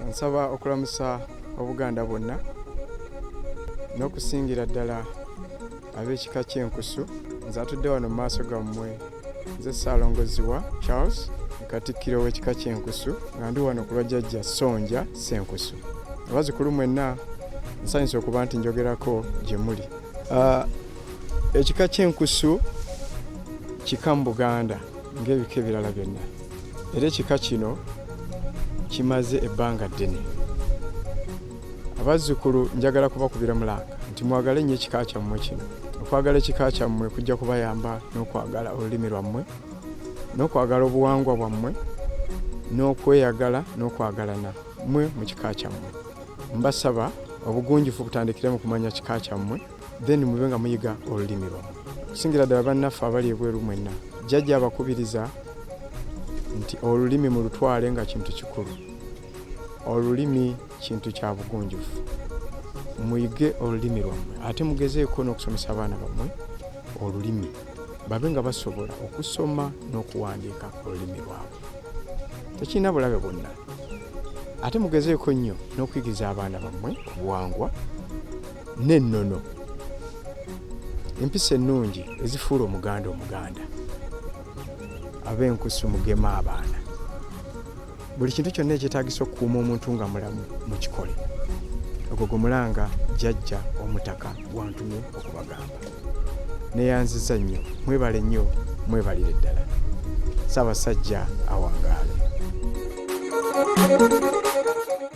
nsaba okulamusa obuganda bwonna n'okusingira ddala ab'ekika ky'enkusu nze atudde wano mu maaso gammwe nze ssaalongoziwa charles katikkiro w'ekika ky'enkusu nga ndi wano ku lwajjajja sonja senkusu abazikulu mwenna nsanyusa okuba nti njogerako gye muli ah, ekika ky'enkusu kika mu buganda ng'ebika ebirala byonna era ekika kino kimaze ebbanga ddene abazzukulu njagala kubakubira mulanga nti mwagale nnyo ekika kyammwe kino okwagala ekika kyammwe kujja kubayamba n'okwagala olulimi lwammwe n'okwagala obuwangwa bwammwe n'okweyagala n'okwagalana mwe mu kika kyammwe mbasaba obugunjufu butandikire mu kumanya kika kyammwe then mube nga muyiga olulimi lwamu okusingira ddala bannaffe abali ebweru mwenna jjajja abakubiriza nti olulimi mulutwale nga kintu kikulu olulimi kintu kya bugunjufu muyige olulimi lwammwe ate mugezeeko n'okusomesa abaana bammwe olulimi babe nga basobola okusoma n'okuwandiika olulimi lwabwe tekirina bulabe bwonna ate mugezeeko nnyo n'okuyigiriza abaana bammwe obuwangwa n'ennono empisa ennungi ezifuula omuganda omuganda ab'enkusu mugema abaana buli kintu kyonna ekyetagisa okukuuma omuntu nga mulamu mu kikole ogwo gumulanga jajja omutaka gwantumye okubagamba neyanziza nnyo mwebale nnyo mwebalire ddala ssaabasajja awangaale